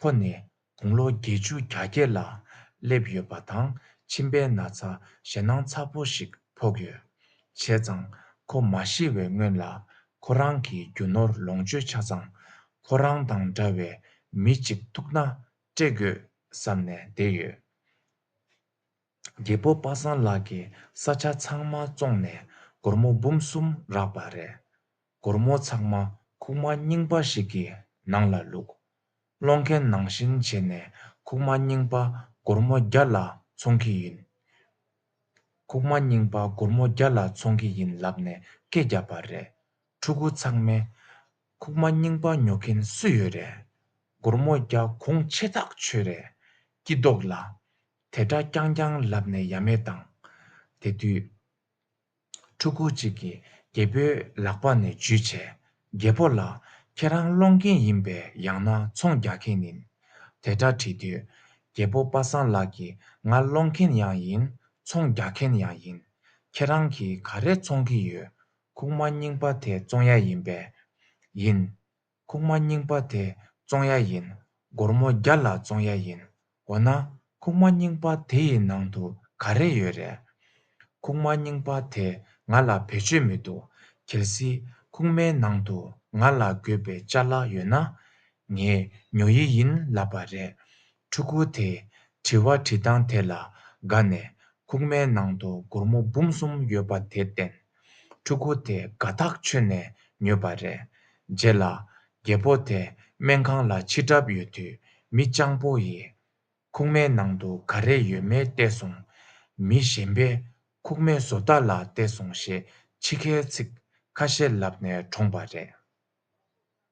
ཁོ་ནི་དགུང་ལོ་བརྒྱད་ཅུ་གྱ་བརྒྱད་ལ་སླེབས་ཡོད་པ་དང་མཆིན་པའི་ན་ཚ་ཞེད་སྣང་ཚ་པོ་ཞིག་ཕོག་ཡོད། བྱས་ཙང་ཁོ་མ་ཤི་བའི་སྔོན་ལ་ཁོ་རང་གི་རྒྱུ་ནོར་ལོངས་སྤྱོད་ཆ་ཚང་ཁོ་རང་དང་འདྲ་བའི་མི་གཅིག་ཐུག་ན་སྤྲད་དགོས་བསམ་ནས་བསྡད་ཡོད། རྒད་པོ་པ་སངས་ལགས་ཀྱིས་ས་ཆ་ཚང་མ་བཙོངས་ནས་སྒོར་མོ་འབུམ་གསུམ་རག་པ་རེད། སྒོར་མོ་ཚང་མ་ཁུག་མ་རྙིང་པ་ཞིག་གི་ནང་ལ་བླུགས། སློང་མཁན་ནང་བཞིན་བྱས་ནས་ཁུག་མ་རྙིང་པ་སྒོར་མོ་བརྒྱ་ལ་འཚོང་གི་ཡིན། ཁུག་མ་རྙིང་པ་སྒོར་མོ་བརྒྱ་ལ་འཚོང་གི་ཡིན་ལབ་ནས་སྐད་བརྒྱབ་པ་རེད། ཕྲུ་གུ་ཚང་མས། ཁུག་མ་རྙིང་པ་ཉོ་མཁན་སུ་ཡོད་རེད། སྒོར་མོ་བརྒྱ་གོང་ཆེ་ཐག་ཆོད་རེད། སྐྱིད་རྡོག་ལ། དེ་སྒྲ་རྐྱང་རྐྱང་ལབ་ནས་ཡ་མེད་བཏང། དེ་དུས། ཕྲུ་གུ་གཅིག་གིས་རྒད་པོའི་ལག་པ་ནས་འཇུས་བྱས། རྒད་པོ་ལགས། ཁྱེད་རང་སློང་མཁན་ཡིན་པས་ཡང་ན་ཚོང་རྒྱག་མཁན་ནིན། དེ་སྒྲ་དྲིས་དུས། རྒད་པོ་པ་སངས་ལགས་ཀྱིས་ང་སློང་མཁན་ཡང་ཡིན་ཚོང་རྒྱག་མཁན་ཡང་ཡིན། ཁྱེད་རང་གིས་ག་རེ་ཚོང་གི་ཡོད། ཁུག་མ་རྙིང་པ་དེ་བཙོང་ཡ་ཡིན་པས། ཡིན། ཁུག་མ་རྙིང་པ་དེ་བཙོང་ཡ་ཡིན། སྒོར་མོ་བརྒྱ་ལ་བཙོང་ཡ་ཡིན། འོ་ན། ཁུག་མ་རྙིང་པ་དེ་ཡི་ནང་དུ་ག་རེ་ཡོད་རེད། ཁུག་མ་རྙིང་པ་དེས་ང་ལ་བེད་སྤྱོད་མི་འདུག་གལ་སྲིད་ཁུག་མའི་ནང་དུ་ང་ལ་དགོས་པའི་བཅའ་ལག་ཡོད་ན། ངས་ཉོ་ཡི་ཡིན་ལབ་པ་རེད། ཕྲུ་གུ་དེས་དྲི་བ་དྲིས་སྟངས་དེ་ལ་དགའ་ནས་ཁུག་མའི་ནང་དུ་སྒོར་མོ་འབུམ་གསུམ་ཡོད་པ་དེ་བསྟན། ཕྲུ་གུ་དེ་དགའ་ཐག་ཆོད་ནས་ཉོས་པ་རེད། རྗེས་ལ། རྒད་པོ་དེ་སྨན་ཁང་ལ་འཆི་གྲབས་ཡོད་དུས་མི་སྤྱང་པོ་ཡིས། ཁུག་མའི་ནང་དུ་ག་རེ་ཡོད་མེད་བལྟས་སོང། མི་གཞན་པས་ཁུག་མའི་བཟོ་ལྟ་ལ་བལྟས་སོང་ཞེས་འཆི་ཁའི་ཚིག་ཁ་ཤས་ལབ་ནས་གྲོངས་པ་རེད།